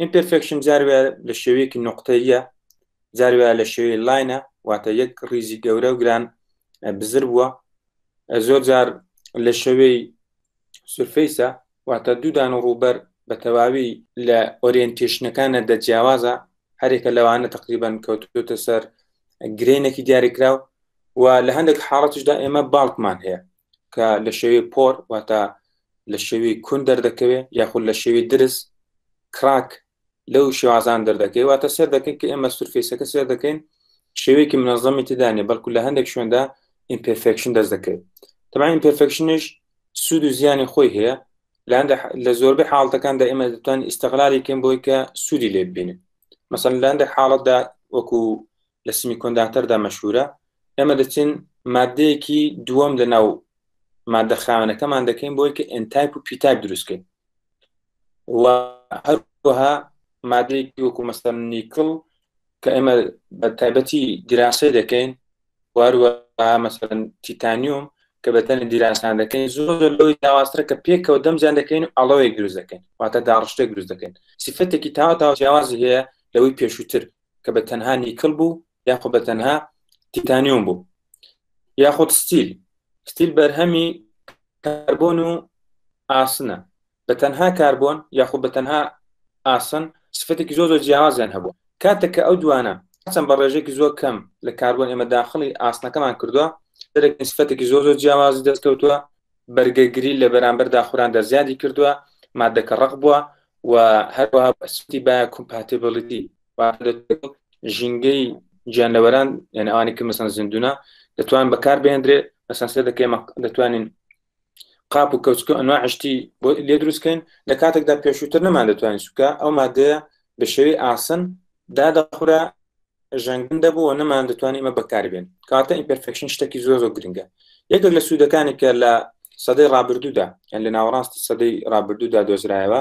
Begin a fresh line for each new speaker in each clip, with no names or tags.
ئیمپێرفێکشن جار وایە لە شێوەیەکی نقطەیە جار وایە لە شێوەی لاینە واتە یەک ڕیزی گەورە و گران بزر بووە زۆر جار لە شێوەی سرفەیسە واتە دوودان و ڕووبەر بە تەواوی لە ئۆریەنتێشنەکانە دەجیاوازە هەرێکە لەوانە تقریبان کەوتوتە سەر گرێنێکی دیاریکراو و لە هەندێک حاڵەتیشدا ئێمە باڵکمان هەیە کە لە شێوەی پۆر واتە لە شێوی کون دەردەکەوێت یاخود لە شێوی درس کراک لەو شێوازان دەردەکەی واتە سێر دەکەین کە ئێمە سرفیسەکە سێر دەکەین شێوەیەکی منەظەمی تدانێ بەڵکو لە هەندێک شوێندا ئیمپرفکشن دەست دەکەوێت تەمان ئیمپرفکشنش سوود و زیانی خۆی هەیە لە زۆربەی حاڵتەکاندا ئێمە دەتوان ئیستغلالی کەم بۆی کە سوودی لێ ببینن مەسەن لاندێک حاڵەتدا وەکو لە سمی کۆنداتەردا مەشهورە ئێمە دەچین مادەیەکی دووەم لە ناو مادە خاوەنەکەمان دەکەین بۆی کە ئەتایپ و پیتاک دروستکەین و هەروەها مادەیەکی وەکو مەستەن نیکڵ کە ئێمە بە تایبەتی دیراسی دەکەین واروە مەسەن تیتانیوم کە بەتەنە دیراسان دەکەین زۆر زۆر لەوەی داواسترە کە پێکەوە دەمجان دەکەین و ئەڵەوەی دروست دەکەین واتە داڕشتێک دروست دەکەین سیفەتێکی تاوا تاوجیاوازی هەیە لەوەی پێشووتر کە بە تەنها نیکل بوو یاخۆ بە تەنها تیتانیۆم بوو یاخود ستیل ستیل بەرهەمی کاربۆن و ئاسنە بە تەنها کاربۆن یاخود بە تەنها ئاسن سفەتێکی زۆ زۆر جیاوازیان هەبوو کاتێک کە ئەو دوانە چەند بە ڕێژێکی زۆر کەم لە کاربۆن ئێمە داخلی ئاسنەکەمان کردووە دەرەکەین سفەتێکی زۆر زۆر جیاوازی دەستکەوتووە بەرگەگری لە بەرامبەر داخوراندا زیادی کردووە مادەکە ڕق بووە و هەروەها سوتی با کومپاتبلیتی ژینگەی گیانلەوەران یعنی ئەوانی کە مەسەن زیندونە دەتوان بەکار بێندرێ مەسەن سێ دەکەی دەتوانین قاپ و کەوچکە ئەنوا عشتی بۆ لێ دروستکەین لە کاتێکدا پێشووتر نەمان دەتوانین سوکە ئەو مادەیە بە شێوی ئاسن دادەخورا ژەنگن دەبوو و نەمان دەتوانین ئمە بەکاربێن کاتە ئیمپرفکشن شتێکی زۆر زۆر گرنگە یەکێک لە سوودەکانی کە لە سەدەی ڕابردوودا یان لە ناوەڕاستی سەدەی ڕابردوودا دۆزرایەوە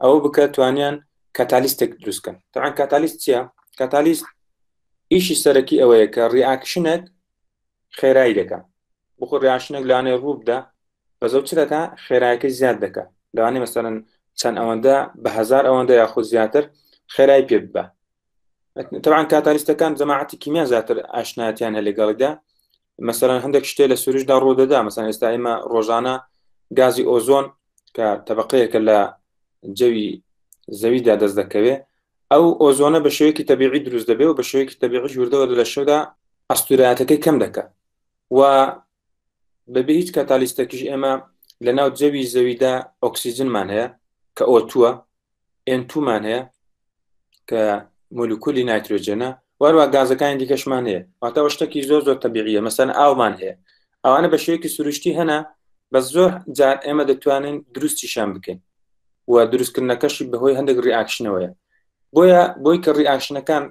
ئەوە بکە توانیان کاتالیستێک دروستکەن تاان کاتالیست چیە کاتالیست ئیشی سەرەکی ئەوەیە کە ڕیاکشنێک خێرایی دەکە بخۆ ڕیاشنێک لانێ ڕووبدا بە زەوت چ دەکە خێرایەکە زیاد دەکە لەوانێ مەسەرن چەند ئەوەندە بە هزار ئەوەندە یاخود زیاتر خێرای پێ ببە تەوان کاتالیستەکان جەماعەتی کیمیا زیاتر ئاشناتیان هە لەگەڵیدا مەسەرەن هەندێک شتێ لە سروشدا ڕوودەدا مەسان ئێستا ئێمە ڕۆژانە گازی ئۆزۆن کە تەبقەیەکە لە جەوی زەویدا دەست دەکەوێ ئەو ئۆزۆنە بە شێوەیەکی تەبیعی دروست دەبێ و بە شێوەیەکی تەبیعی ژووردەوە لە شەودا ئەستوراتەکەی کەم دەکە و بەبێ هیچ کاتالیستەکیش ئێمە لە ناو جەوی زەویدا ئۆکسسیجنمان هەیە کە ئۆتووە ئێنتومان هەیە کە مولکولی نایترۆجێنە واروا گازەکانی دیکەشمان هەیە واتەوە شتێکی زۆر زۆر تەبیعە مەسەن ئاومان هەیە ئەوانە بە شێوەیەکی سروشتی هەنا بە زۆر جار ئێمە دەتوانین دروستیشان بکەین و دروستکردنەکەشی بەهۆی هەندێک ریاکشنەوەیە بۆیە بۆی کە ڕیئاکشنەکان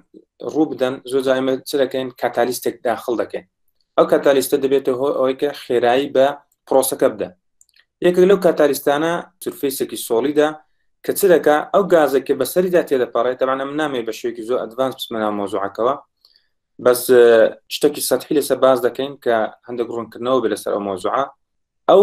ڕوو بدەن زۆر جار ئێمە چ دەکەین کاتالیستێک داخل دەکەین ئەو کاتالیستە دەبێتە هۆ ئەوەی کە خێرایی بە پرۆسەکە بدە یەکێک لەو کاتالیستانە سرفیسێکی سۆڵیدا کە چ دەکا ئەو گازێک کە بەسەریدا تێدەپەڕێت تەوانە من نامێ بە شوێکی زۆر ئەدڤانس بسمەنا مۆزوعەکەەوە بەس شتێکی سەحی لەسەر باز دەکەین کە هەندێک ڕوونکردنەوە بێ لەسەر ئەو مۆزوعە ئەو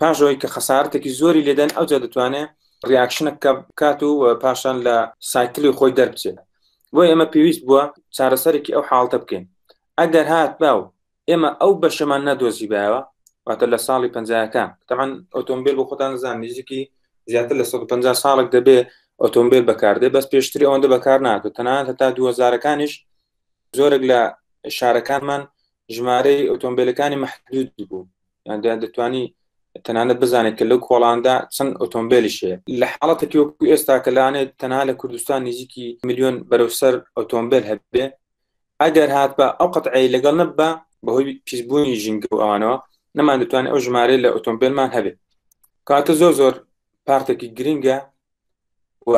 پاشەوەی کە خەسارتێکی زۆری لێدەن ئەوجا دەتوانێت ریاکشنە کە بکات و پاشان لە سایکلی خۆی دەربچێت بۆ ئێمە پێویست بووە چارەسەرێکی ئەو حاڵتە بکەین ئەگەر هات با و ئێمە ئەو بەشەمان نەدۆزی باوە واتە لە ساڵی پەنجاکان تەمان ئۆتۆمبیل بۆ خۆتان زان نزیکی زیاتر لە 150 ساڵک دەبێ ئۆتۆمبیل بەکاردێ بەس پێشتری ئەوەندە بەکار ناکە تەنان هەتا دوهزارەکانیش زۆرێک لە شارەکانمان ژمارەی ئۆتۆمبیلەکانی محدود بوو یان دەیان دەتوانی تەنانەت بزانێت کە لەو کۆڵاندا چەند ئۆتۆمبیلیش هەیە لە حاڵەتێکی وەکو ئێستا کە لانێت تەنها لە کوردستان نزیکی میلیۆن بەرەو سەر ئۆتۆمبیل هەبێ ئەگەر هات بە ئەو قەتعی لەگەڵ نەبە بەهۆی پیسبوونی ژینگە و ئەوانەوە نەمان دەتوانێت ئەو ژمارە لە ئۆتۆمبیلمان هەبێت کاتە زۆر زۆر پارتێکی گرنگە و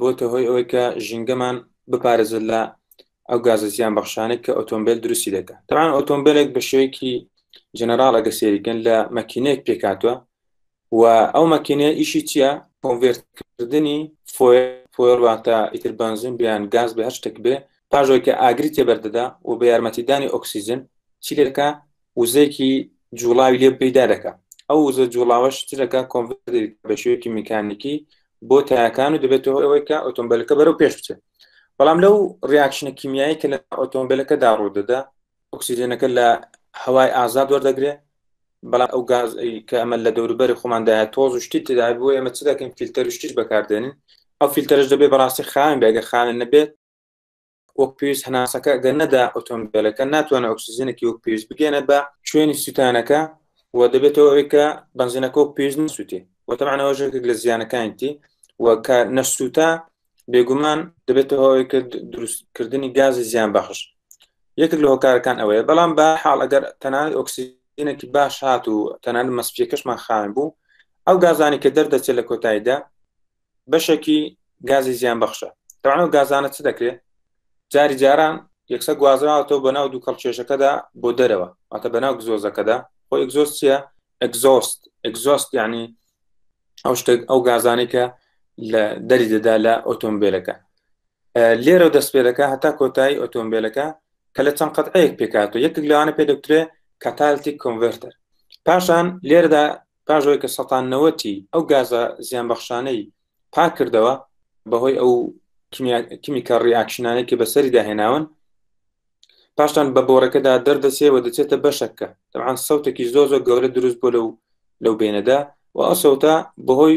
بۆتە هۆی ئەوەی کە ژینگەمان بپارێزت لە ئەو گازە زیان بەخشانێک کە ئۆتۆمبیل دروستی دەکات تاوان ئۆتۆمبیلێک بە شێوەیەکی جەنەراڵ ئەگە سێریکن لە مەکینەیەک پێکاتوە و ئەو مەکینەیە ئیشی چییە کۆنڤێرتکردنی فۆیڵواتە ئیتر بنزین بیان گاز بە هەر شتێک بێ پاژۆی کە ئاگری تێبەردەدا و بە یارمەتیدانی ئۆکسسیجن چیلەکە وزەیەکی جوڵاوی لێ پەیدا دەکا ئەو وزە جوڵاوە شتەکە کۆنڤەرتێک بە شێوەیەکی میکانیکی بۆ تایەکان و دەبێت هۆی ئەوەی کە ئۆتۆمبیلەکە بەرەو پێش بچێت بەڵام لەو ڕیاکشنە کیمیایی کە لە ئۆتۆمبیلەکەدا ڕوودەدا ئۆکسسیجنەکە لە هەوای ئازاد وەردەگرێ بەڵام ئەو گاز کە ئەمە لە دەوروبەری خۆماندایە تۆز و شتی تدا بۆ ئێمە چ دەکەین فیلتەر شتیش بەکاردێنین ئەو فیلتەرش دەبێت بەڕاستی خاوێن بێگە خاوێن نەبێت وەک پێویست هەناسەکە گەر نەدا ئۆتۆمبیلەکە ناتوانێت ئۆکسسیزنێکی وەک پێویست بگەێنێت بە شوێنی سووتانەکە و دەبێتەوە ئەوەی کە بنزینەکە و پێویست نسووتی وەتەمانەوە ژێکێک لە زیانەکانیتی و کە نەسووتا بێگومان دەبێتەوە ئەوەی کرد دروستکردنی گازی زیان بەخش یەکێک لە هۆکارەکان ئەوەیە بەڵام بە حاڵ ئەگەر تەنان ئۆکسسیجینێکی باش هات و تەنان مەسپیەکەشمان خاوێن بوو ئەو گازانی کە دەردەچێت لە کۆتاییدا بەشێکی گازی زیان بەخشە تەوانەوە گازانە چ دەکرێت جاری جاران یەکسە گوازراوەوە بە ناو دوو کەڵ کێشەکەدا بۆ دەرەوە ئەتە بە ناو گزۆزەکەدا خۆ ئەگزۆست چیە ئەگزۆست ئەگزۆست یعنی ئەو شتێک ئەو گازانەی کە لە دەری دەدا لە ئۆتۆمبیلەکە لێرە دەست پێ دەکە هەتا کۆتایی ئۆتۆمبیلەکە کە لە چەند قەتعەیەک پێکاتەوە یەکێک لەوانە پێ دەکرێت کاتالتی کۆنڤرتەر پاشان لێرەدا پاش ئەوەی کە سەتان نەوەتی ئەو گازە زیانبەخشانەی پاکردەوە بەهۆی ئەو کمیکە ڕیاکشنانێک کە بەسەری داهێناون پاشان بە بۆرەکەدا دەردەچێ و دەچێتە بەشەکە دەبان سەوتێکی زۆ زۆ گەورە دروست بۆ لەو لەو بینەدا و ئەسەوتە بەهۆی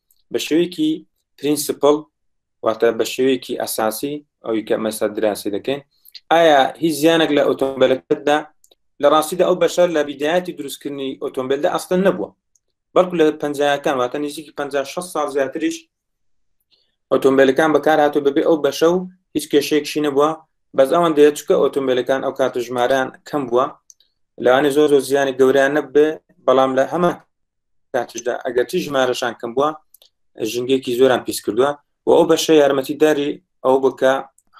بە شێوەیەکی پرینسپل واتە بە شێوەیەکی ئەساسی ئەوی کە مەسا دراسی دەکەین ئایا هیچ زیانێک لە ئۆتۆمبیلەکەتدا لە ڕاستیدا ئەو بەشەر لە بیدایەتی دروستکردنی ئۆتۆمبیلدا ئەستن نەبووە بەڵکو لە پنجەکان واتە نزیکی 56 سال زیاتریش ئۆتۆمبیلەکان بەکار هاتو بەبێ ئەو بەشە و هیچ کێشەیەکشی نەبووە بەس ئەوان دەیە چکە ئۆتۆمبیلەکان ئەو کاتە ژماران کەم بووە لەوانی زۆر زۆر زیانی گەوریان نەبێ بەڵام لە هەمە کاتیشدا ئەگەرچی ژمارەشان کەم بووە ژنگێکی زۆران پیس کردووە و ئەو بەشە یارمەتی داری ئەو بکە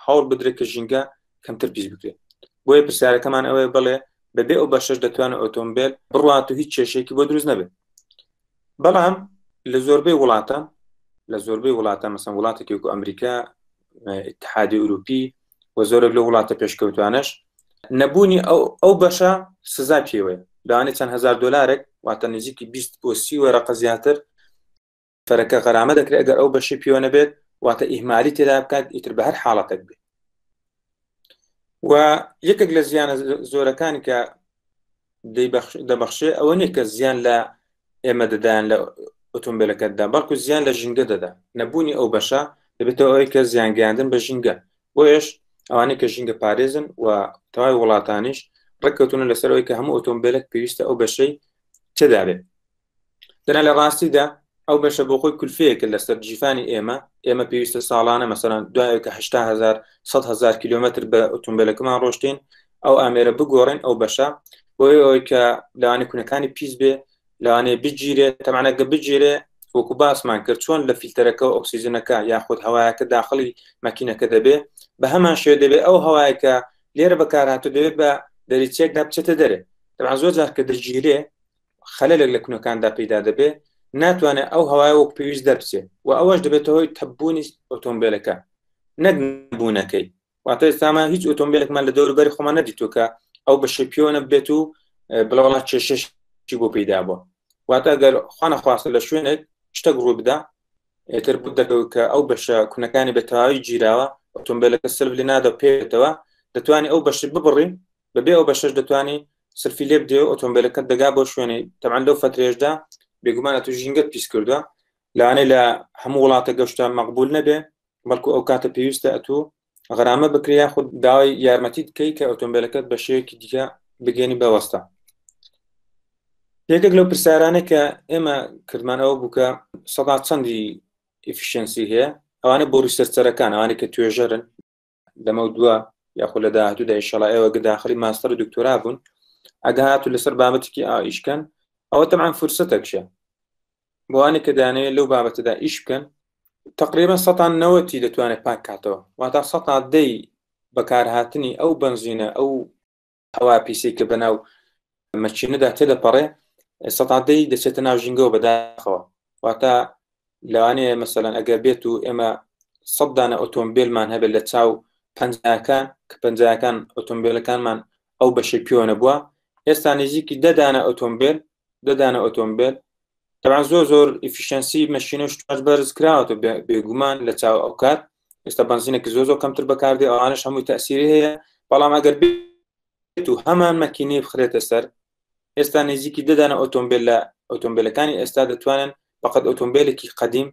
هەوڵ بدرێت کە ژینگە کەمتر پیس بکرێت بۆیە پرسیارەکەمان ئەوەیە بڵێ بەبێ ئەو بەشش دەتوانێت ئۆتۆمبیل بڕات و هیچ کێشێکی بۆ دروست نەبێت بەڵام لە زۆربەی وڵاتە لە زۆربەی وڵاتە مەسەن وڵاتێکی وکو ئەمریکا اتحادی ئەوروپی و زۆرە لە وڵاتە پێشکەوتوانش نەبوونی ئەو ئەو بەشە سزا پێوەیە داوانێت چەند هزار دلارێک واتە نزیکی 20 بۆ سی وەرەقە زیاتر فەرەکە غەرامە دەکرێت ئەگەر ئەو بەشی پێوە نەبێت واتە ئیهمالی تێدا بکات ئیتر بە هەر حاڵەتەک بێت و یەکێک لە زیانە زۆرەکانی کە دەبخشێ ئەوە نیە کە زیان لە ئێمە دەدایان لە ئۆتۆمبیلەکەتدا بەڵکو زیان لە ژینگە دەدا نەبوونی ئەو بەشە دەبێتەوە ئەوەی کە زیانگەیاندن بە ژینگە بۆیش ئەوانەی کە ژینگە پارێزن و تەواوی وڵاتانیش ڕێککەوتونە لەسەرەوەی کە هەموو ئۆتۆمبیلێک پێویستە ئەو بەشەی تێدابێت دەنا لە ڕاستیدا ئەو بەشە بۆ خۆی کولفەیەکە لەسەر جیفانی ئێمە ئێمە پێویستە ساڵانە مەسەران دوایەکە هزار هزار کیلومتر بە ئۆتۆمبیلەکەمان ڕۆشتین ئەو ئامێرە بگۆڕین ئەو بەشە بۆی ئەوی کە لەوانی کونەکانی پیس بێ لەوانێ بگیرێ تەمانەگە بگیرێ وەکو باسمان کرد چۆن لە فیلتەرەکە و ئۆکسسیزنەکە یاخود هەوایەکە داخلی مەکینەکە دەبێ بە هەمان شێ دەبێت ئەو هەوایەکە لێرە بەکارهاتو دەبێت بە دەریچێکدا بچێتە دەرێ دەبان زۆر جار کە دەگیرێ خەلەلێک لە کونەکاندا پەیدا دەبێ ناتوانێت ئەو هەوای وەک پێویست دەربچێت و ئەوەش دەبێتە هۆی تەبوونی ئۆتۆمبیلەکە نەک بوونەکەی واتە ئێستامان هیچ ئۆتۆمبیلێکمان لە دەوروبەری خۆمان نەدیتوکە ئەو بە شەپیۆنە بێت و بڵاوڵات کێشش چی بۆ پێدا بووە واتە گەر خوانە خواستە لە شوێنێک شتەک ڕوو بدا ئێتر بوو دەکەوت کە ئەو بەشە کونەکانی بەتەواوی گیراوە ئۆتۆمبیلەکە سلب لە نادە پێێتەوە دەتوانانی ئەو بەشت ببڕی بەبێ ئەو بەشەش دەتوانی سلفی لێ بدێ و ئۆتۆمبیلەکەت دەگا بۆ شوێنی تەمان لەو فترێشدا بێگومانە تو ژینگەت پیس کردووە لەوانەیە لە هەموو وڵاتە گەشتە مەقبول نەبێ بەڵکو ئەو کاتە پێویستە ئەتو غەرامە بکرێ یاخود داوای یارمەتی بکەی کە ئۆتۆمبیلەکەت بە شێوەیەکی دیکە بگەێنی بەوەستە یەکێک لەو پرسیارانە کە ئێمە کردمان ئەوە بووکە سەدا چەندی ئفیشنسی هەیە ئەوانە بۆ ریسەرچەرەکان ئەوانە کە توێژەرن لەمەو دووە یاخۆ لە داهاتوودا ئیشەڵا ئێوە گە داخلی ماستەر و دکتۆرا بوون ئەگە هاتو لەسەر بابەتێکی ئائیشکەن ئەوە تەمان فرسەتەکشە بۆوانێک کە دانەیە لەو بابەتەدا ئیش بکەن تقریبا سەان نەوەتی دەتوانێت پاک کاتەوە واتا سەا دەی بەکارهاتنی ئەو بنزینە ئەو هەوا پیسی کە بەناو مەچینەدا تێدەپەڕێ سەتادەی دەچێتە ناو ژینگەوە بەداخەوە واتە لەوانەیە مەسەلەن ئەگەر بێت و ئێمە سەدانە ئۆتۆمبیلمان هەبێت لە چاو پەنجەکان کە پەنجەکان ئۆتۆمبیلەکانمان ئەو بەشی پێوەە بووە ئێستا نزیکی دەدانە ئۆتۆمبیل دەدانە ئۆتۆمبیل تەبان زۆر زۆر ئیفیشنسی مەشینە شتاش بەرز کراوەتە بێگومان لە چاو ئەو کات ئێستا بنزینێکی زۆ زۆ کەمتر بەکاردێ ئەوانش هەمووی تاسیری هەیە بەڵام ئەگەر بێت و هەمان مەکینەی بخرێتە سەر ئێستا نزیکی دەدانە ئۆتۆمبیل لە ئۆتۆمبیلەکانی ئێستا دەتوانن بەقەت ئۆتۆمبیلێکی قدیم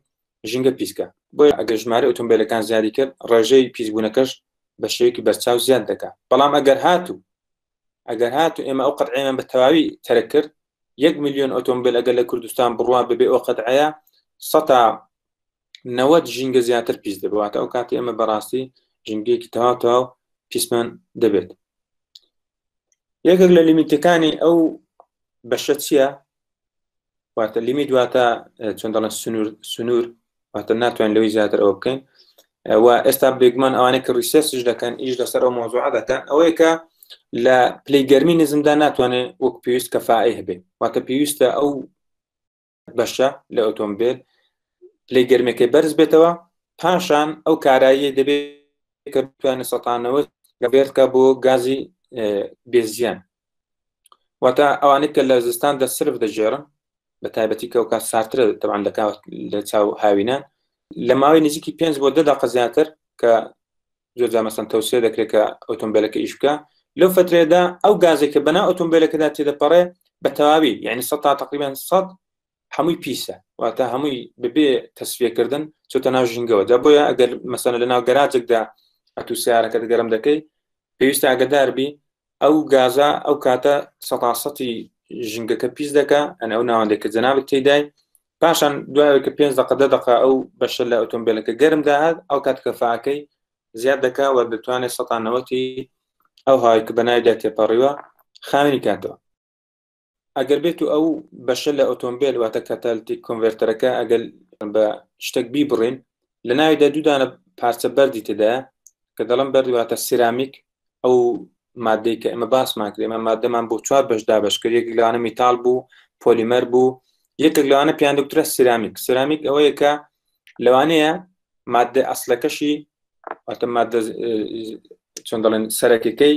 ژینگە پیسکە بۆ ئەگەر ژمارە ئۆتۆمبیلەکان زیادی کرد ڕێژەی پیسبوونەکەش بە شێوکی بەرچاو زیاد دەکات بەڵام ئەگەر هاتوو ئەگەر هات و ئێمە ئەو قەتعێمان بە تەواوی تەرک کرد یەک میلیۆن ئۆتۆمبیل ئەگەر لە کوردستان بڕوان ببێ ئەو قەتعەیە سەتا نەوەت ژینگە زیاتر پیس دەبواتە ئەو کاتی ئێمە بەڕاستی ژینگەیەکی تەوا تەواو پیسمان دەبێت یەکێک لە لیمیتەکانی ئەو بەشە چییە واتە لیمیت واتە چۆن دەڵێن سنوور سنوور واتە ناتوان لەوەی زیاتر ئەوە بکەین و ئێستا بێگومان ئەوانەی کە ڕیسێسش دەکەن ئیش لەسەر ئەو مۆزوع دەکەن ئەوەیە کە لە پلی گەرمی نزمدا ناتوانێت وەک پێویست کەفاعی هەبێت واتە پێویستە ئەو بەشە لە ئۆتۆمبیل پلی گەرمەکەی بەرز بێتەوە پاشان ئەو کارایی دەبێت کە بتوانێت سەتانەوە گەبێتکە بۆ گازی بێزیان واتە ئەوانەی کە لە زستان دە سرف دەژێرن بە تایبەتی کە کات ساترە تەوان دەکات لە چاو هاوینان لە ماوەی نزیکی پێنج بۆ دەدا قەزیاتر کە زۆرجا مەسەن تەوسێ دەکرێت کە ئۆتۆمبیلەکە ئیش بکە لەو فترێدا ئەو گازێک کە بەنا ئۆتۆمبیلەکەدا تێدەپەڕێ بە تەواوی یعنی سە تا تقریبان سە هەمووی پیسە واتە هەمووی ببێ تەسفیەکردن چۆتە ناو ژینگەوە دە بۆیە ئەگەر مەسەن لە ناو گەراجێکدا ئەتو سیارەکە دەگەرم دەکەی پێویستە ئەگەداربی ئەو گازە ئەو کاتە سەتاسەتی ژنگەکە پیس دەکە ئەن ئەو ناوەندێک کە جەنابت تێدای پاشان دوایە کە پێنج دقە دە دقە ئەو بەشە لە ئۆتۆمبیلەکە گەرم داهات ئەو کات کەفاکەی زیاد دەکا وە دەتوانێت سەتانەوەتی ئەو هاوی کە بەناویدا تێپەڕیوە خاوێنی کاتەوە ئەگەر بێت و ئەو بەشە لە ئۆتۆمبیل واتە کاتالتی کۆنڤێرتەرەکە ئەگەر بە شتێک بیبڕین لە ناویدا دوودانە پارچە بەردی تێدا کە دەڵم بەردواتە سرامیک ئەو مادەی کە ئمە باسمان کرد ئمە مادەمان بۆ چوار بەش دابش کرد یەک لەوانە میتال بوو پۆلیمەر بوو یەکێک لەوانە پیان دکترە سرامیک سرامیک ئەوەیە کە لەوانەیە مادە ئەسلەکەشی ئەتە مادە چۆن دەڵێن سەرەکەکەی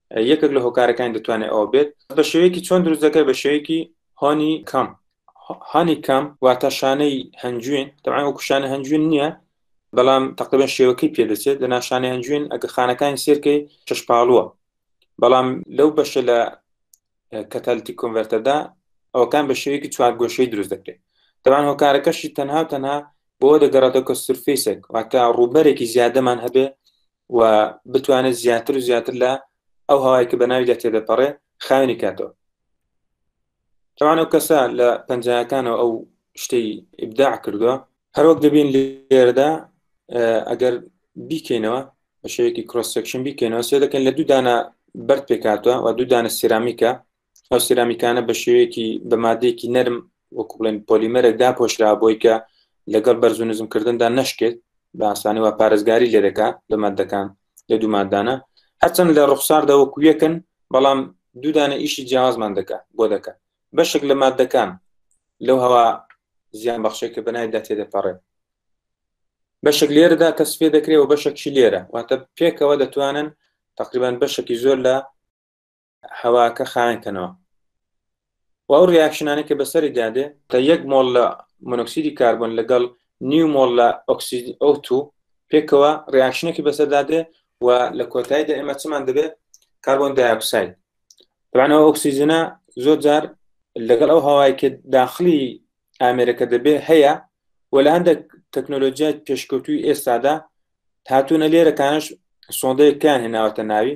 یەکێک لە هۆکارەکانی دەتوانێت ئەوە بێت بە شێوەیەکی چۆن دروست دەکەێت بە شێوەیەکی هۆنی کەم هانی کەم واتە شانەی هەنجوین دەوان وەکو شانە هەنجوین نییە بەڵام تقریبا شێوەکەی پێدەچێت لە ناشانە هەنجوین ئەگە خانەکانی سێرکەی چشپاڵووە بەڵام لەو بەشە لە کەتالتی کۆنڤەرتەدا ئەوکان بە شێوەیەکی چوار گۆشەی دروست دەکرێت دەوان هۆکارەکەشی تەنها و تەنها بۆ دەگەڕێتەوە کە سرفیسێک واتە ڕووبەرێکی زیادەمان هەبێ و بتوانێت زیاتر و زیاتر لە ئەو هەوای کە بەناوی لە تێدەپەڕێ خاوێنی کاتەوە تەوان ئەو کەسە لە پەنجەکانەوە ئەو شتەی ئبداع کردووە هەروەک دەبین لێرەدا ئەگەر بیکەینەوە بە شێوەیەکی کرۆسەکشن بیکەینەوە سێ دەکەن لە دوو دانە بەرد پێکاتوە و دوو دانە سیرامیکە ئەو سرامیکانە بە شێوەیەکی بە مادەیەکی نەرم وەکو بڵێن پۆلیمەرێک داپۆشرا بۆی کە لەگەڵ بەرز و نزمکردندا نشکێت باسانی و پارێزگاری لێ دەکات لە مادەکان لە دوو مادانە هەرچەند لە ڕوخساردا وەکو یەکن بەڵام دوودانە ئیشی جیاوازمان دەکات بۆ دەکات بەشێک لە مادەکان لەو هەوا زیان بەخشێک کە بەنایدا تێدەپەڕێت بەشێک لێرەدا تەسفێ دەکرێت و بەشێکی لێرە واتە پێکەوە دەتوانن تقریبان بەشێکی زۆر لە هەواکە خاوێن کەنەوە و ئەو ریاکشنانە کە بەسەری دادێ تا یەک مۆڵ لە مۆنۆکسیدی کاربن لەگەڵ نیو مۆڵ لە ئۆکسید ئەوتو پێکەوە ریاکشنێکی بەسەردادێ و لە کۆتاییدا ئێمە چمان دەبێت کاربن دایکساید توانەوە ئۆکسیزنە زۆر جار لەگەڵ ئەو هەوای کە داخلی ئامێرەکە دەبێ هەیە و لە هەندێک تەکنۆلۆژیای پێشکەوتوی ئێستادا هاتوونە لێرەکانش سۆندەیەکیان هێناوەتە ناوی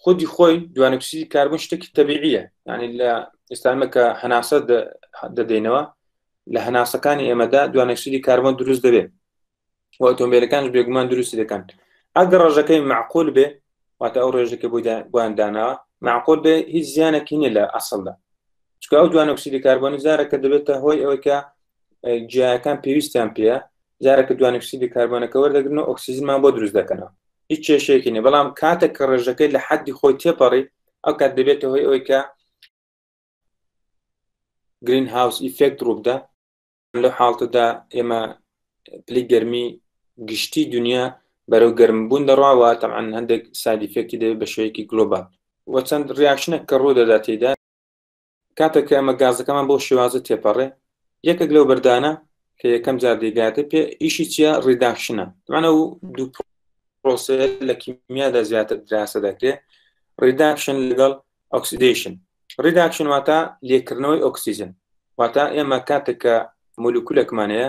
خودی خۆی دوانکسیدی کاربن شتێکی تەبیعە ینی لە ئێستانمە کە هەناسە دەدەینەوە لە هەناسەکانی ئێمەدا دوانکسیدی کاربن دروست دەبێت و ئۆتۆمبیلەکان بێگومان دروستی دەکەن ئەگەر ڕژەکەی معقول بێ واتە ئەو ڕێژەکە بۆی بۆیان داناوە معقول بێ هیچ زیانێکی نیە لە ئەسڵدا چکە ئەو دوانکسیدی کاربۆنی زارەکە دەبێتە هۆی ئەوەی کە جیاکان پێویستیان پێە جارەکە دوانکسیدی کاربۆنەکە وەردەگرن و ئۆکسسیزمان بۆ دروست دەکەنەوە هیچ کێشەیەکی نیە بەڵام کاتێک کە ڕێژەکەی لە حەدی خۆی تێپەڕی ئەو کات دەبێتە هۆی ئەوەی کە گرین هاوس ئیفێکت ڕووبدا لە حاڵتەدا ئێمە پلی گەرمی گشتی دنیا بەرەو گەرمبوون دەڕواوە تەعاان هەندێک سادیفێکی دەبێت بە شوەیەکی گلۆبال وە چەند ڕاکشنە کە ڕوو دەداتیدا کاتێک کە ئەمە گازەکەمان بۆ شێوازە تێپەڕێ یەکێک لەو بەردانە کە یەکەم جار دەیگاتێ پێ ئیشی چیە ڕیداکشنە دوانە و دوو پرۆسێ لە کیمیادا زیاتر دراسە دەکرێت ڕیداکشن لەگەڵ ئۆکسیدیشن ڕیداکشن واتە لێکردنەوەی ئۆکسسیجن واتە ئێمە کاتێک کە مولکولەکمانەیە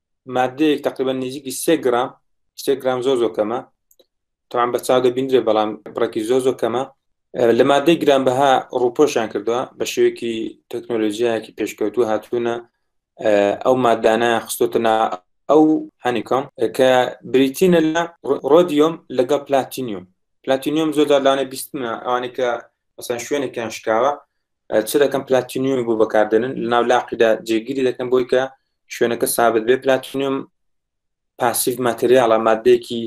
مادەیەک تقریبا نزیکی سێ گرام سێ گرام زۆر زۆر کەمە تاان بە چاو دەبیندرێ بەڵام بڕێکی زۆر زۆر کەمە لە مادەی گران بەها ڕوپۆشان کردووە بە شێوەیەکی تەکنۆلۆژیایەکی پێشکەوتو هاتوونە ئەو مادانە خستۆتەنا ئەو هەنیکۆم کە بریتینە لە ڕۆدیۆم لەگەڵ پلاتینیوم پلاتینیوم زۆر دادانە بیستمە ئەوانەی کە مەسەن شوێنێکیان شکاوە چ دەکەم پلاتینیومی بۆ بەکاردێنن لە ناو لاقیدا جێگیری دەکەم بۆی کە شوێنەکە سابت بێ پلاتینیۆم پاسیف ماتریاڵە مادەیەکی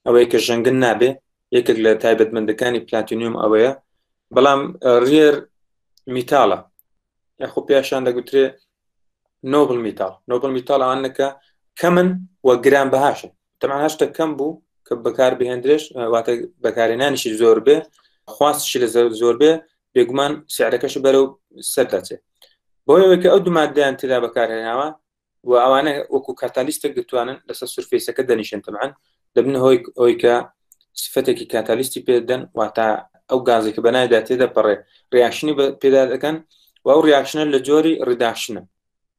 ئەوەیە کە ژەنگن نابێ یەکێک لە تایبەتمەندەکانی پلاتینیۆم ئەوەیە بەڵام ڕێر میتالە یاخۆ پێشان دەگوترێ نۆبل میتال نۆبل میتالانەکە کەمن و گران بەهاشن تەمان هەشتە کەم بوو کە بەکار بهێندرێش واتە بەکارێنانیشی زۆر بێ خواستشی لە زۆر بێ بێگومان سعرەکەش بەرەو سەر دەچێت بۆیەوەکە ئەو دوماددەیان تێدا بەکارهێناوە و ئەوانە وەکو کاتالیستێک دەتوانن لەسەر سرفیسەکە دەنیشن تەمان دەبن هۆی ئەوی کە سفەتێکی کاتالیستی پێدەن واتە ئەو گازێکە بەنایدا تێدەپەڕێ ریاکشنی پێدا دەکەن و ئەو ریاکشنە لە جۆری ریداکشنە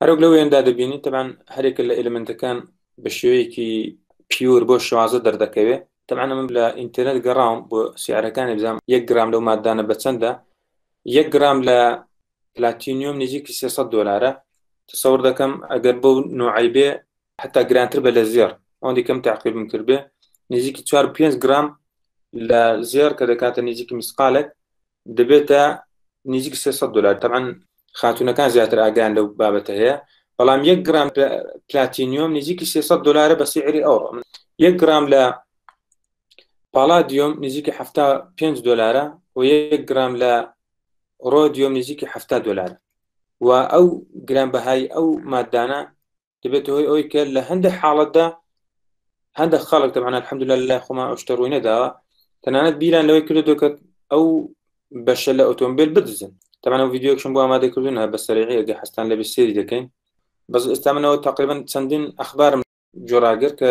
هەرۆک لە وێندا دەبینی تەبان هەرێکە لە ئەلمنتەکان بە شێوەیەکی پیور بۆ شوازە دەردەکەوێت تەمان من لە ئینتەرنێت گەڕاوم بۆ سیارەکانی بزانام یەک گرام لەو مادانە بە چەندە یەک گرام لە پلاتینیۆم نزیکی 300 دلارە تەسەور دەکەم ئەگەر بەو نوعی بێ حتا گرانتر بە لە زێر ئەوەندی کەم تاقیبم کرد بێ نزیکی 4 5 گرام لە زێر کە دەکاتە نزیکی مسقالێک دەبێتە نزیک سێ سەد دۆلار تەبعەن خاتوونەکان زیاتر ئاگان لەو بابەتە هەیە بەڵام یەک گرام پلاتینیۆم نزیکی سێ سەد دۆلارە بە سیعری ئەوڕۆ یەک گرام لە پاڵادیۆم نزیکی هەفتا پێنج دۆلارە و یەک گرام لە ڕۆدیۆم نزیکی هەفتا دۆلار و ئەو گران بەهای ئەو مادانە دەبێتە هۆی ئەوی کە لە هەندێک حاڵەتدا هەندێک خەڵک دەبان الحمد لله لای خۆمان ئەوشتە ڕووی نەداوە تەنانەت بیران لەوەی کردو کە ئەو بەشە لە ئۆتۆمبیل بدزن تەمانە ڤیددیوکشم بۆ ئامادە کردون بە سەرەیەگە حستان لە بسێری دەکەین بەس ئێستا منەوە تقریبان چەندین ئەخبارم جۆراگر کە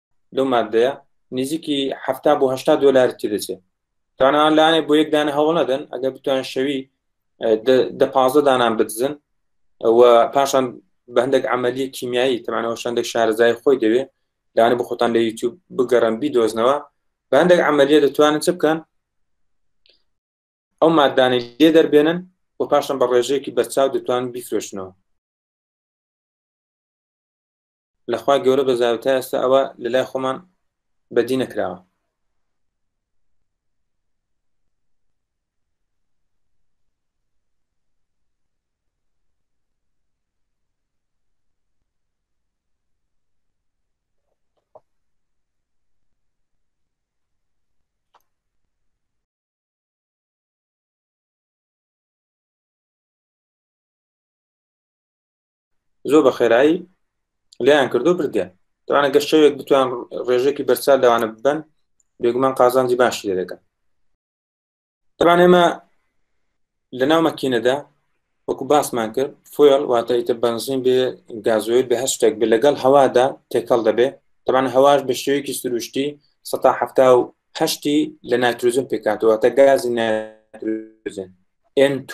لەو مادەیە نزیکی هەفتا بۆ هشتا دلاری تێدەچێت توانان لاانێ بۆ یەکدانە هەوڵ نەدەن ئەگەر بتوان شەوی دە پازە دانان بدزن و پاشان بە هەندێک عملیە کیمیایی تەمانەوە شەندێک شارزای خۆی دەوێت لاانە بە خۆتان لە یوتیوب بگەڕن بیدۆزنەوە بە هەندێک عملیە دەتوانن چ بکەن ئەو مادانی لێ دەربێنن و پاشان بە ڕێژەیەکی بەرچاو دەتوان بیفرۆشنەوە لە خوای گەورە بە زاوی تا ئێستا ئەوە لە لای خۆمان بەدی نەکراوە زۆر بە خێرایی لیان کردو بردێن دوانە گەشت شەوێک بتوان ڕێژێکی بەرچال لەوانە ببن بێگومان قازانجی باشی لێ دەکەن تەبان ئێمە لە ناو مەکینەدا وەکو باسمان کرد فۆل واتە ئیتە بنزین بێ گازۆید بە هەر شتێک بێ لەگەڵ هەوادا تێکەڵ دەبێ تەبان هەواش بە شێوەیەکی سروشتی سەتا هەفتا و هەشتی لە ناتروزن پێکاتەوە تە گازی ناتروزن N2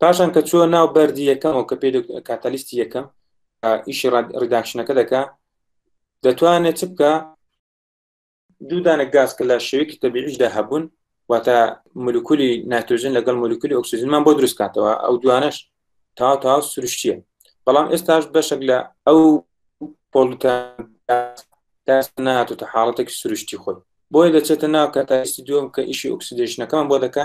پاشان کە چوە ناو بەردی یەکەمەوە کە پێ کاتەلیستی یەکەم ئیشی ڕداکشنەکە دەکا دەتوانێت چ بکە دوودانە گاز کە لە شێوێکی تەبیعیشدا هەبوون واتە مولکولی ناتۆژن لەگەڵ مولکولی ئۆکسسیزنمان بۆ دروست کاتەوە ئەو دوانش تا تا سروشتیە بەڵام ئێستاش بەشێک لە ئەو پۆلتە ناتوتە حاڵەتێکی سروشتی خۆی بۆیە دەچێتە ناو کە تاستی دوم کە ئیشی ئۆکسیدشنەکەمان بۆ دەکە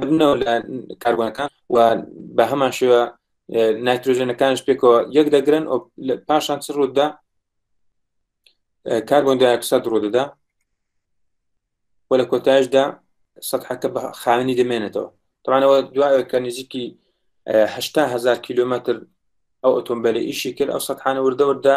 بنەوە لە کاربوونەکان و بە هەمان شێوە نایترۆژێنەکانش پێکەوە یەک دەگرن پاشان چ ڕوودا کاربوون داکسە ڕوودەدا و لە کۆتایشدا سەحەکە بە خاوێنی دەمێنێتەوە تاانەوە دوایە کە نزیکی ههزار کیلومتر ئەو ئۆتۆمبیلی ئیشی کرد ئەو سەحانە وردەوردا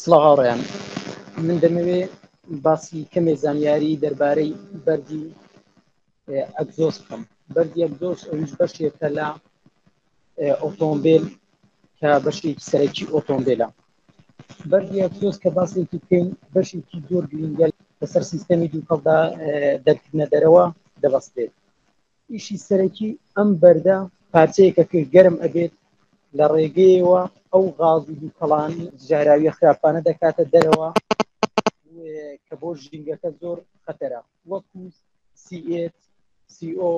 سڵاو هاوڕێیان من دەمەوێ باسی کەمێ زانیاری دەربارەی بەردی ئەگزۆس بکەم بەردی ئەگزۆس ئەویش بەشێکە لە ئۆتۆمبیل کە بەشێکی سەرەکی ئۆتۆمبیلە بەردی ئەگزۆس کە باسێکی بکەین بەشێکی زۆر گرنگەل لەسەر سیستەمی دووکەڵدا دەرکردنە دەرەوە دەبەستێت ئیشی سەرەکی ئەم بەردە پارچەیەکە کە گەرم ئەبێت لە ڕێگەیەوە ئەو غاز و دووکەڵان ژاراویە خراپانە دەکاتە دەرەوە کە بۆ ژینگەکە زۆر خەتەرە وەکو سیئت سیO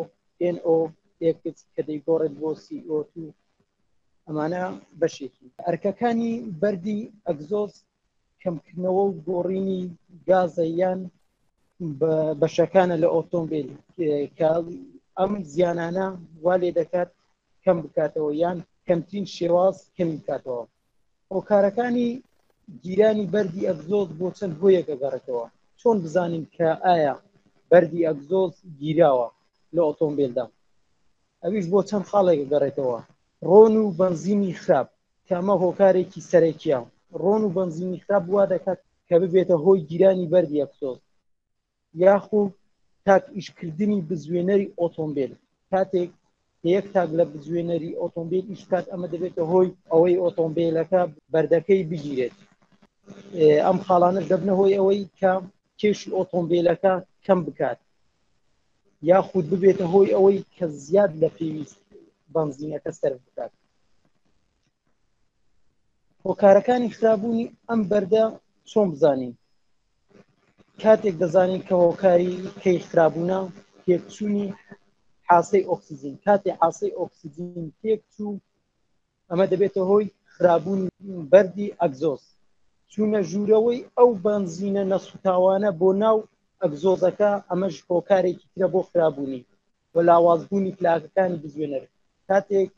NO ئێکس کە دەیگۆڕێت بۆ سیO2 ئەمانە بەشێکی ئەرکەکانی بەردی ئەگزۆز کەمکردنەوە و گۆڕینی گازە یان بەشەکانە لە ئۆتۆمبیل کە ئەم زیانانە وا لێ دەکات کەم بکاتەوە یان کەمترین شێواز کەمی بکاتەوە هۆکارەکانی گیرانی بەردی ئەگزۆز بۆ چەند هۆیەکە گەڕێتەوە چۆن بزانین کە ئایا بەردی ئەگزۆز گیراوە لە ئۆتۆمبیلدا ئەویش بۆ چەند خاڵێک گەڕێتەوە ڕۆن و بەنزینی خراپ کە ئەمە هۆکارێکی سەرەکیە ڕۆن و بەنزینی خراپ وا دەکات کە ببێتە هۆی گیرانی بەردی ئەکسۆز یاخو تاک ئیشکردنی بزوێنەری ئۆتۆمبیل کاتێک یەک تاک لە بزوێنەری ئۆتۆمبیل ئیشکات ئەمە دەبێتە هۆی ئەوەی ئۆتۆمبیلەکە بەردەکەی بگیرێت ئەم خاڵانە دەبنە هۆی ئەوەی کە کێشی ئۆتۆمبیلەکە کەم بکات یاخود ببێتە هۆی ئەوەی کە زیاد لە پێویست بنزینەکە سەر بکات هۆکارەکانی خرابوونی ئەم بەردە چۆن بزانین کاتێک دەزانین کە هۆکاری کەی خرابوونە تێکچوونی حاسەی ئۆکسسیجین کاتی حاسەی ئۆکسسیجین تێکچوو ئەمە دەبێتە هۆی خرابوون بەردی ئەگزۆز چوونە ژوورەوەی ئەو بەنزینە نەسوتاوانە بۆ ناو ئەگزۆزەکە ئەمەش هۆکارێکی ترە بۆ خرابوونی و لاوازبوونی پلاکەکانی بزوێنەر کاتێک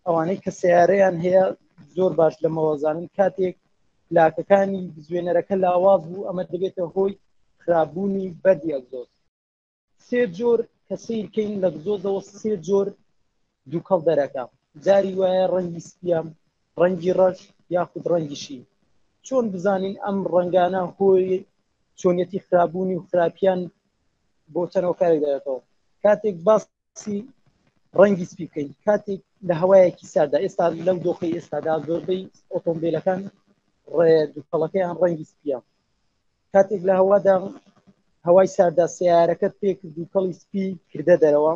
ئەوانەی کە سیارەیان هەیە زۆر باش لە مەوەزانن کاتێک پلاکەکانی بزوێنەرەکە لاواز بوو ئەمە دەبێتە هۆی خراببوونی بەردی ئەگزۆز سێ جۆر کە سیرکەین لە گزۆزەوە سێ جۆر دووکەڵ دەرەکە جاری وایە ڕەنگی سپیام ڕەنگی ڕەش یاخود ڕەنگیشی چۆن بزانین ئەم ڕەنگانە هۆی چۆنیەتی خراببوونی و خراپیان بۆ چەند هۆکارێک دەێتەوە کاتێک باسی ڕەنگی سپی بکەین کاتێک لە هەوایەکی سادا ئێستا لەو دۆخی ئێستادا زۆربەی ئۆتۆمبیلەکان ڕێ دوکەڵەکەیان ڕەنگی سپیە کاتێک لە هەوادا هەوای ساردا سیارەکە پێکرد و کەڵی سپی کردە دەرەوە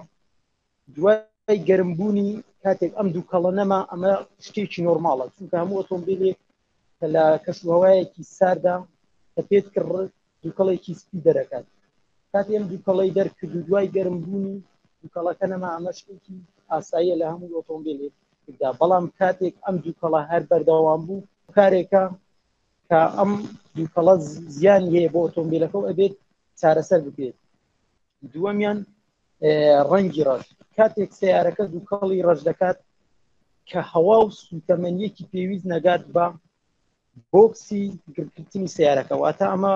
دوای گەرم بوونی کاتێک ئەم دوو کەڵە نەما ئەمە شتێکی نۆرماڵە چونکە هەموو ئۆتۆمبیلێک کە لە کەشوهوایەکی ساردا کە پێت کڕ دووکەڵێکی سپی دەرەکات کاتێم دووکەڵی دەرکرد و دوای گەرم بوونی دووکەڵەکە نەما ئەمە شتێکی ئاساییە لە هەموو ئۆتۆمبیلێک دا بەڵام کاتێک ئەم دووکەڵە هەر بەردەوام بوو کارێکە کە ئەم دووکەڵە زیان هەیە بۆ ئۆتۆمبیلەکە و ئەبێت چارەسەر بکرێت دووەمیان ڕەنگی ڕەش کاتێک سیارەکە دووکەڵی ڕەش دەکات کە هەوا و سوتەمەنیەکی پێویست نەگات بە بۆکسی گرکردنی سیارەکە واتە ئەمە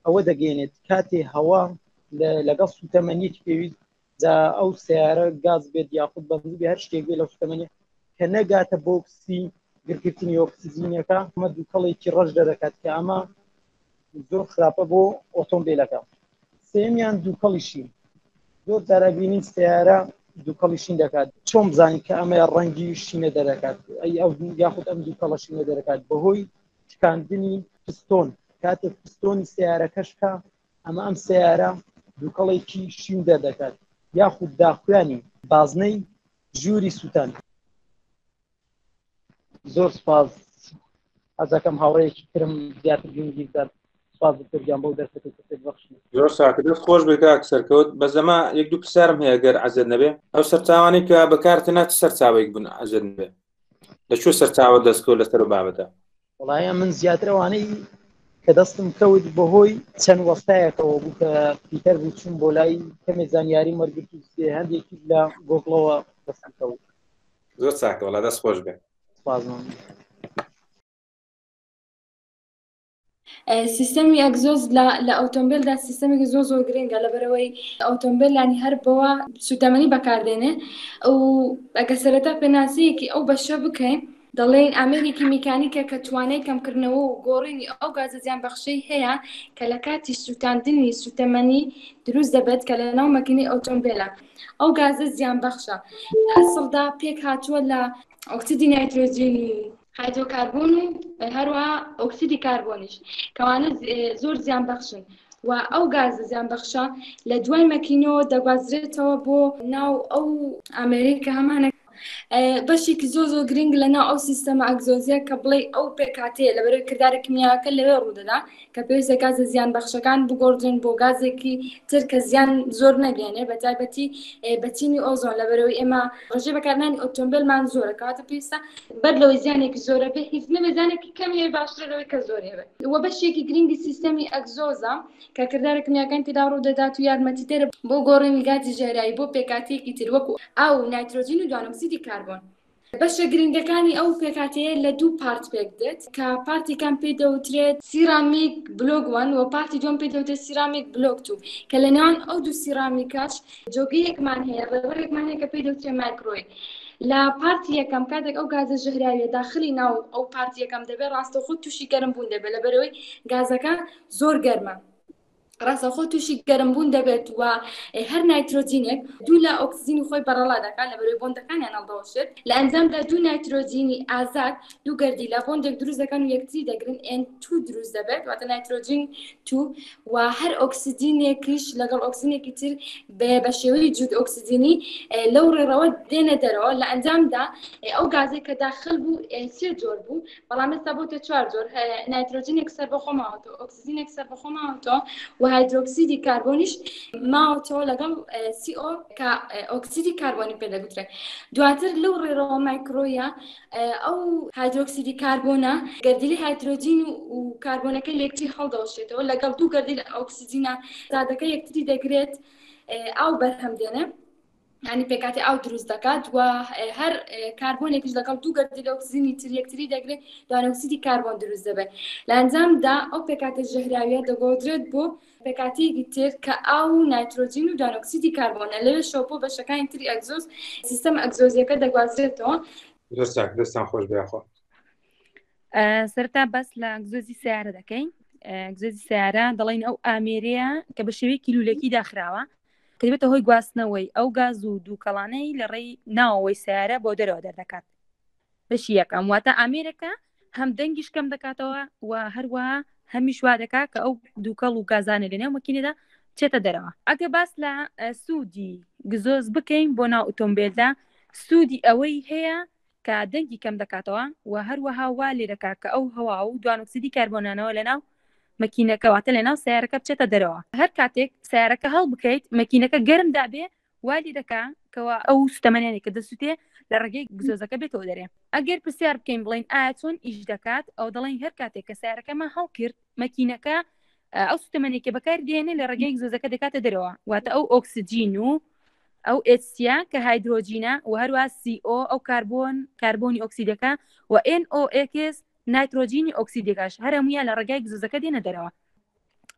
ئەوە دەگەێنێت کاتێ هەوا لەگەڵ سوتەمەنیەکی پێویست دا ئەو سیارە گاز بێت یاخود بەزی هەر شتێک بێ لە سوتەمەنی کە نەگاتە بۆکسی گرکردنی ئۆکسسیزینەکە ئەمە دووکەڵێکی ڕەش دەدەکات کە ئەمە زۆر خراپە بۆ ئۆتۆمبیلەکە سێمیان دووکەڵیشین زۆر دارابینی سیارە دووکەڵیشین دەکات چۆن بزانین کە ئەمە ڕەنگی شینە دەرەکات ئەی ئەو یاخود ئەم دووکەڵە شینە دەرەکات بەهۆی شکاندنی پستۆن کاتێک پستۆنی سیارەکەشکە ئەمە ئەم سیارە دووکەڵێکی شین دەردەکات یاخود داخوێنی بازنەی ژووری سووتان زۆر سپاس ئەزەکەم هاوڕێکی ترم زیاتر گرنگی بدات سپاس دکتۆرگیان بەو دەرفەتی کە بەخش زۆر ساکردت خۆش
بێ کاک سەرکەوت بە زەما یەک دوو پرسیارم هەیە گەر عزت نەبێ ئەو سەرچاوانی کە بەکارتە ناچ سەرچاوێک بوون عزت نبێ لە چۆ سەرچاوە دەستکەوت لەسەر بابەتە وڵایە من
زیاترەوانەی کە دەستم کەوت بەهۆی چەند وەستایەکەوە بوو کە پیتەر بوو چون بۆ لای کەمێ زانیاری مەرگرت هەندێکی لە گۆگڵەوە دەستم کەوت زۆر چاکە
وڵا دەست خۆش بێ بازمان
سیستەمی ئەگزۆز لە ئۆتۆمبیلدا سیستەمێکی زۆ زۆر گرنگە لە بەرەوەی ئۆتۆمبیلانی هەر بەوە سوودەمەنی بەکاردێنێ و ئەگە سەرەتا پێناسەیەکی ئەو بەشە بکەین دەڵێن ئامێرێکی میکانیکە کە توانای کەمکردنەوە و گۆڕینی ئەو گازە زیانبەخشەی هەیە کە لە کاتی سووتاندنی سووتەمەنی دروست دەبێت کە لەناو مەکینەی ئۆتۆمبێلە ئەو گازە زیانبەخشە ئەسڵدا پێکهاتووە لە ئۆکسیدی نایترۆجین و هایدرۆکاربۆن و هەروەها ئۆکسیدی کاربۆنیش کەوانە زۆر زیانبەخشن و ئەو گازە زیانبەخشە لە دوای مەکینەوە دەگوازرێتەوە بۆ ناو ئەو ئامێرەی کە هەمانە بەشێکی زۆ زۆ گرنگ لە ناو ئەو سیستەمە ئەگزۆزیە کە بڵێ ئەو پێکاتەیە لە بەرەوەی کردارە کمیاکە لەوێ ڕوودەدا کە پێویستە گازە زیان بەخشەکان بگۆڕدرێن بۆ گازێکی تر کە زیان زۆر نەگەێنێ بە تایبەتی بەچینی ئۆزۆن لە بەرەوەی ئێمە ڕژێ بەکارنانی ئۆتۆمبیلمان زۆرە کاتە پێویستە بەر لەوەی زیانێکی زۆرە بێ هیچ نەبێ زیانێکی کەمیێ باشترە لەوەی کە زۆرێ بێ وە بەشێکی گرنگی سیستەمی ئەگزۆزە کە کردارە کمیاکان تێدا ڕوو دەدات و یارمەتیدەرە بۆ گۆڕینی گازی ژەهراوی بۆ پێکهاتەیەکی تر وەکو ئاو و نایترۆجین و دوانەئۆکسیدی کاربۆن. بەشە گرنگەکانی ئەو پێکهاتەیە لە دوو پارت پێکدێت کە پارتی یەکەم پێی دەوترێت سیرامیک بلۆک وەن و پارتی دووەم پێی دەوترێت سیرامیک بلۆک توو کە لە نێوان ئەو دوو سیرامیکەش جۆگەیەکمان هەیە ڕێوڕێکمان هەیە کە پێی دەوترێت مایکرۆی لە پارتی یەکەم کاتێک ئەو گازە ژەهراویە داخلی ناو ئەو پارتی یەکەم دەبێت ڕاستەوخۆ تووشی گەرم بوون دەبێت لەبەرەوەی گازەکە زۆر گەرمە. ڕاستەوخۆ تووشی گەرمبوون دەبێت و هەر نایترۆجینێک دوو لە ئۆکسجینی خۆی بەڕەڵا دەکات لە بەرەوەی بۆندەکانیان هەڵدەوەشێت لە ئەنجامدا دوو نایترۆجینی ئازاد دوو گەردی لە بۆندێک دروست دەکەن و یەکتری دەگرن ئێن تو دروست دەبێت واتە نایترۆجین تو و هەر ئۆکسجینێکیش لەگەڵ ئۆکسجینێکی تر بە شێوەی جود ئۆکسجینی لەو ڕێڕەوە دێنە دەرەوە لە ئەنجامدا ئەو گازێک کە داخل بوو سێ جۆر بوو بەڵام ئێستا بۆتە چوار جۆر نایترۆجینێک سەربەخۆ ماوەتەوە ئۆکسزینێک سەربەخۆ ماوەتەوە و هایدرۆکسیدی کاربۆنیش ماوەتەوە لەگەڵ سیۆ کە ئۆکسیدی کاربۆنی پێ دەگوترێت دواتر لەو ڕێرەوە مایکرۆیە ئەو هایدرۆکسیدی کاربۆنە گەردیلی هایدرۆجین و کاربۆنەکە لێکتی هەڵدەوەشێتەوە لەگەڵ دوو گەردیل ئۆکسزینە زادەکە یەکتری دەگرێت ئاو بەرهەم دێنێ یانی پێکاتی ئاو دروست دەکات و هەر کاربۆنێکش لەگەڵ دوو گەردی لۆکسزیینی تر یەکتری دەگرێت دوانەوسیدی کاربۆن دروست دەبێت لە ئەنجامدا ئەو پێکاتە ژەهراویە دەگۆدرێت بۆ پێکاتیەکی تر کە ئاو و نایترۆجین و دانۆکسیدی کاربۆنە لەوێ شەو بۆ بەشەکانی تری ئەگزۆز سیستەم ئەگزۆزیەکە دەگوازرێتەوە دەستان دەستان
خۆش بەخۆ سەرتا
بەس لە ئەگزۆزی سیارە دەکەین ئەگزۆزی سیارە دەڵین ئەو ئامێرەیە کە بە شێوەیەکی لولەکی داخراوە کە دەبێتە هۆی گواستنەوەی ئەو گاز و دووکەڵانەی لە ڕێی ناوەوەی سیارە بۆ دەرەوە دەردەکات بەشی یەکەم واتە ئامێرەکە هەم دەنگیش کەم دەکاتەوە و هەروە هەمیش وا دەکات کە ئەو دووکەڵ و گازانە لە نێو مەکینەدا چێتە دەرەوە ئەگە باس لە سوودی گزۆز بکەین بۆ ناو ئۆتۆمبیلدا سوودی ئەوەی هەیە کە دەنگی کەم دەکاتەوە و هەروەها وا لێدەکات کە ئەو هەوا و دوانۆکسیدی کاربۆنانەوە لەناو مەکینەکە واتە لەناو سەیارەکە بچێتە دەرەوە. هەر کاتێک سەیارەکە هەڵبکەیت مەکینەکە گەرم دابێ وا لێدەکا کەوا ئەو سوتەمەنیانەی کە دەسوتێ لە ڕێگەی گزۆزەکە بێتەوە دەرێ. ئەگەر پرسیار بکەین بڵێین ئایا چۆن ئیش دەکات ئەوە دەڵێین هەر کاتێک کە سەیارەکەمان هەڵکرد مەکینەکە ئەو سوتەمەنیەی کە بەکاری دێنێ لە ڕێگەی گزۆزەکە دەکاتە دەرەوە واتە ئەو ئۆکسجین و ئەو ئێچسیە کە هایدرۆجینە و هەروەها سی ئۆ ئەو کاربۆن کاربۆنی ئۆکسیدەکە و ئێن ئۆ ئێکس نایترۆجینی ئۆکسیدەکەش هەر هەموویان لە ڕێگای گزوزەکە دێنە دەرەوە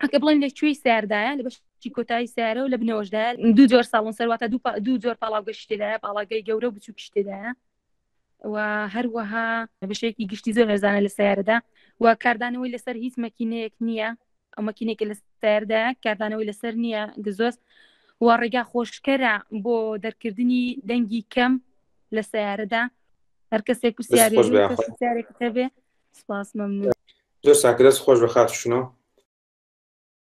ئەکە بڵێن لە کوێی ساردایە لە بەش چی کۆتایی سیارە و لە بنەوەشدا دوو جۆر ساڵن سەرواتە دوو جۆر پاڵاوگە شتێدایە پاڵاگەی گەورە و بچووک شتێدایە و هەروەها بەشێکی گشتی زۆر هەرزانە لە سیارەدا و کاردانەوەی لەسەر هیچ مەکینەیەک نییە ئەو مەکینێکی لە سیاردا کاردانەوەی لەسەر نییە گزۆز و ڕێگا خۆشکەرە بۆ دەرکردنی دەنگی کەم لە سیارەدا هەر کەسێک پرسیارێکتەبێ سپاس مەمنون زۆر ساکرەس
خۆش بە خاتشنەوە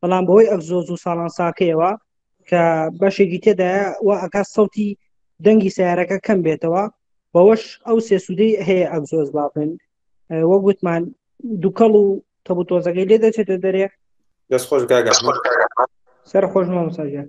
بەڵام بەوەی ئەک زۆ زوو ساڵان ساکەیەوە کە بەشێکی تێدایە و ئەکات سەوتی دەنگی سیارەکە کەم بێتەوە بەوەش ئەو سێسوودەی هەیە ئەک زۆز بابن وەک وتمان دووکەڵ و تەبوتۆزەکەی لێ دەچێتە دەرێ دەست خۆش گاگە
سەر خۆش
مامۆساجان